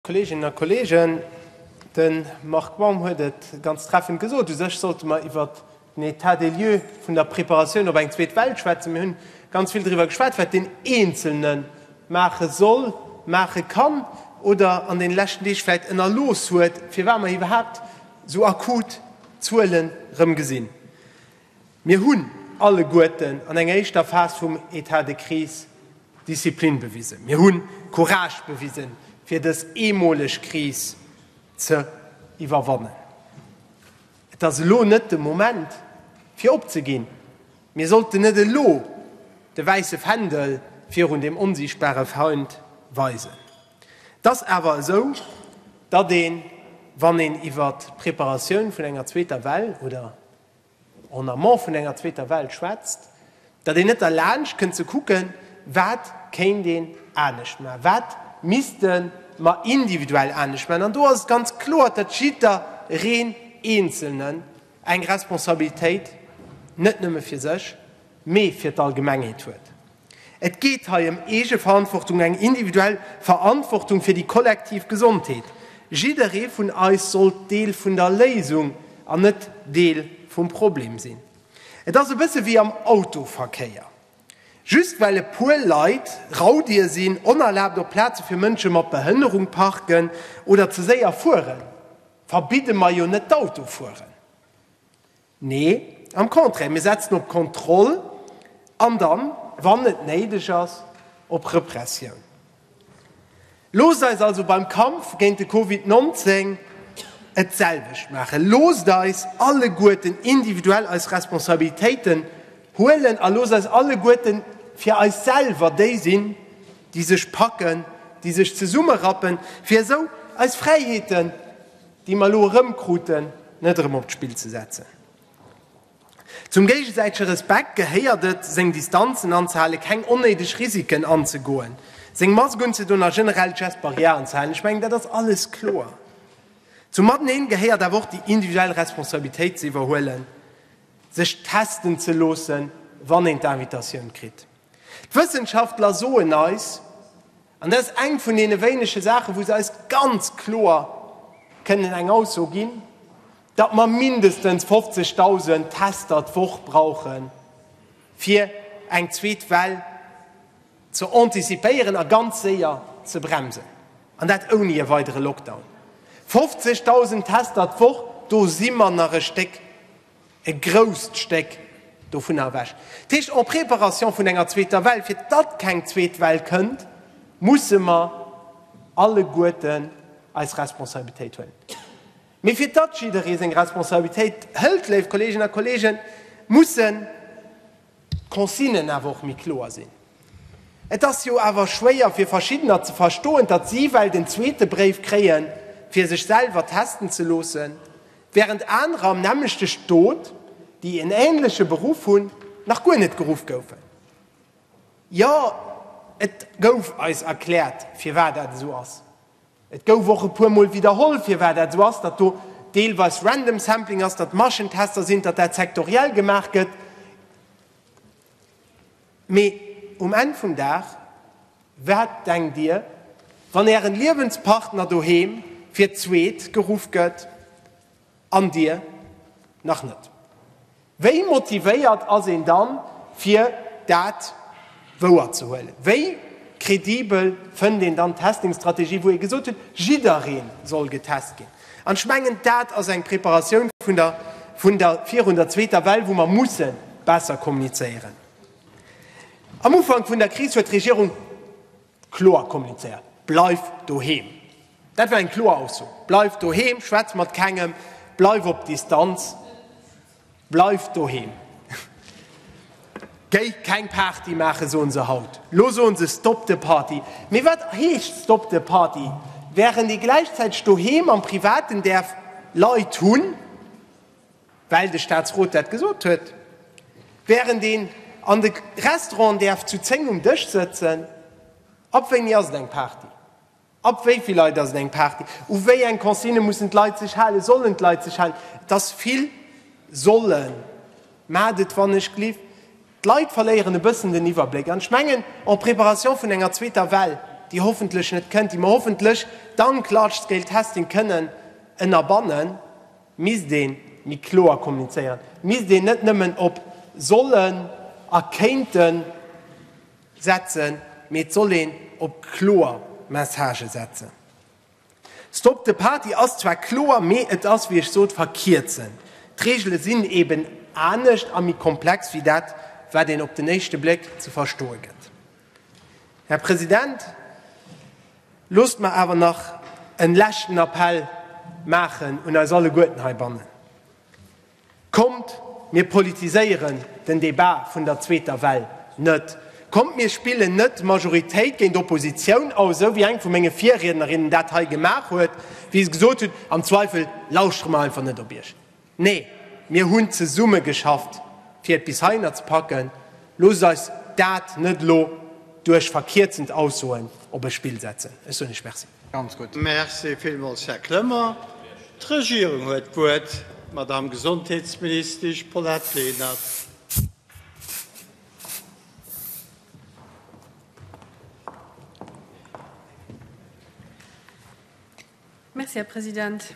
Kolleeginnen a Kolleegen, de Marc Baum huet et ganz treffend gesot, U sech sollte mer iwwert den État des lieux vun der Preparatioun op eng zweet Well schwätzen. Mir hunn ganz vill driwwer geschwat, wat deen Eenzelne maache soll, maache kann oder an deene leschten Deeg vläicht ënnerlooss huet, firwat mer iwwerhaapt esou akut Zuele rëm gesinn. Mir hunn alleguerten an enger éischter Phas vum Etat de crise Disziplin bewisen. Mir hu Courage bewisen, fir dës eemoleg Kris ze iwwerwannen. Et ass elo net de Moment, fir opzeginn. Mir sollten net elo de wäisse Fändel virun deem onsiichtbare Feind weisen. Et ass awer esou, datt een, wann een iwwert d'Preparatioun vun enger zweeter Well oder en amont vun enger zweeter Well schwätzt, datt een net derlaanscht kënnt ze kucken, wat kéint een anescht maachen, wat misste mer individuell anescht maachen. An do ass et ganz kloer, datt jiddereen Eenzelnen eng Responsabilitéit net nëmme fir sech, mee fir d'Allgemengheet huet. Et geet hei ëm Eegeverantwortung, eng individuell Verantwortung fir déi kollektiv Gesondheet. Jidderee vun eis sollt Deel vun der Léisung an net Deel vum Problem sinn. Et ass e bësse wéi am Autoverkéier. Just well e puer Leit Raudier sinn, onerlaabt op Plaze fir Mënsche mat Behënnerung parken oder ze séier fueren, verbidde mer jo net d'Autofueren. Nee, am Contraire, mir setzen op Kontroll an dann, wann et néideg ass, op Repressioun. Loosst eis also beim Kampf géint de Covid 19 et selwecht maachen. Loosst eis alleguerten individuell eis Responsabilitéiten huelen a loosst eis alleguerten fir eis selwer déi sinn, déi sech packen, déi sech zesummerappen, fir esou eis Fräiheeten, déi mer elo erëmkruten, net erëm op d'Spill ze setzen. Zum géigesäitege Respekt gehéiert et, seng Distanzen anzehalen, keng onnéideg Risiken anzegoen, seng Mask unzedoen a generell d'Gestes barrières anzehalen. Ech mengen, dat ass alles kloer. Zum Mateneen gehéiert awer och déi individuell Responsabilitéit ze iwwerhuelen, sech testen ze loossen, wann een d'Invitatioun kritt. D'Wëssenschaftler soen eis, an dat ass eng vun deene wéinege Saachen, wou se eis ganz kloer kënnen eng Ausso ginn, datt mer mindestens 50.000 Tester d'Woch brauchen, fir eng zweet Well ze antizipéieren a ganz séier ze bremsen, an dat ouni e weidere Lockdown. 50.000 Tester d'Woch, do si mer nach e Stéck E grousst Stéck dovunner ewech. Dat heescht, en préparation vun enger zweeter Well, fir datt keng zweet Well kënnt, musse mer alleguerten eis Responsabilitéit huelen. Mee fir datt jidderee seng Responsabilitéit hëlt, léif Kolleeginnen a Kolleegen, mussen, d'Consignen awer och méi kloer sinn. Et ass jo awer schwéier fir Verschiddener ze verstoen, datt si well den zweete Bréif kréie fir sech selwer testen ze loossen, wärend anerer am nämmlechte Stot, déi en änleche Beruff hunn, nach guer net geruff goufen. Jo, et gouf eis erkläert, firwat dat esou ass. Et gouf och e puer Mol widderholl, firwat dat esou ass, datt do deelweis random sampling ass, datt Maschentester sinn, datt dat sektoriell gemaach gëtt. Mee um Enn vum Dag, wat denkt Dir, wann Ären Liewenspartner doheem fir d'zweet geruff gëtt? An Dir nach net? Wéi motivéiert ass een dann, fir dat wouer ze huelen? Wéi kredibel fënnt een dann d'Testing-Strategie, wou ee gesot huet, jidderee soll getest ginn? An ech mengen, dat ass eng Preparatioun vun der virun der zweeter Well, wou mer musse besser kommunizéieren. Am Ufank vun der Kris huet d'Regierung Kloer kommunizéiert, Bleif doheem! Dat war eng kloer Ausso. Bleif doheem, schwätz mat kengem, bleif op Distanz, bleif doheem. Géi keng Party maachen, soen se haut. Lo soen se Stop the party. Mee wat heescht Stop the party, wärend ee gläichzäiteg doheem am Privaten däerf Leit hunn? Well de Statsrot dat gesot huet, wärend een an de Restauranten däerf zu 10 um Dësch sëtzen, ab wéini ass et eng Party, ab wéi vill Leit ass et eng Party, u wéi eng Consignë mussen d'Leit sech halen, sollen d'Leit sech halen, et ass vill sollen, mä et wann ech gleef, d'Leit verléieren e bëssen den Iwwerbléck. An ech mengen, en préparation vun enger zweeter Well, déi hoffentlech net kënnt, déi mer hoffentlech dank large-scale testing kënnen ënnerbannen, Misst een méi kloer kommunizéieren? Misst een net nëmmen op sollen a kéinten setzen, mee et soll een op kloer Messagë setzen? Stop the Party ass zwar kloer, mee et ass, wéi ech sot, verkierzend. D'Reegele sinn eben anescht a méi komplex wéi dat, wat een op den éischte Bléck ze verstoe gëtt. Här President, Loosst mer awer nach en leschten Appell maachen un eis alleguerten heibannen, Kommt, mir politiséieren den Debat vun der zweeter Well net! Kommt, mir spillen net Majoritéit géint Oppositioun aus, esou wéi eng vu menge Virriednerinnen dat hei gemaach huet, wéi se gesot hutt, am Zweifel lauschtere mer einfach net op Iech. Nee, mir hunn zesumme geschafft, fir et bis heihinner ze packen. Loosst eis dat net elo duerch verkierzend Aussoen op e Spill setzen. Ech soen lech Merci. Ganz gutt. Merci villmools, Här Clement. D'Regierung huet d'Wuert, d'Madame Gesondheetsministesch Paulette Lenert. Merci, Här President.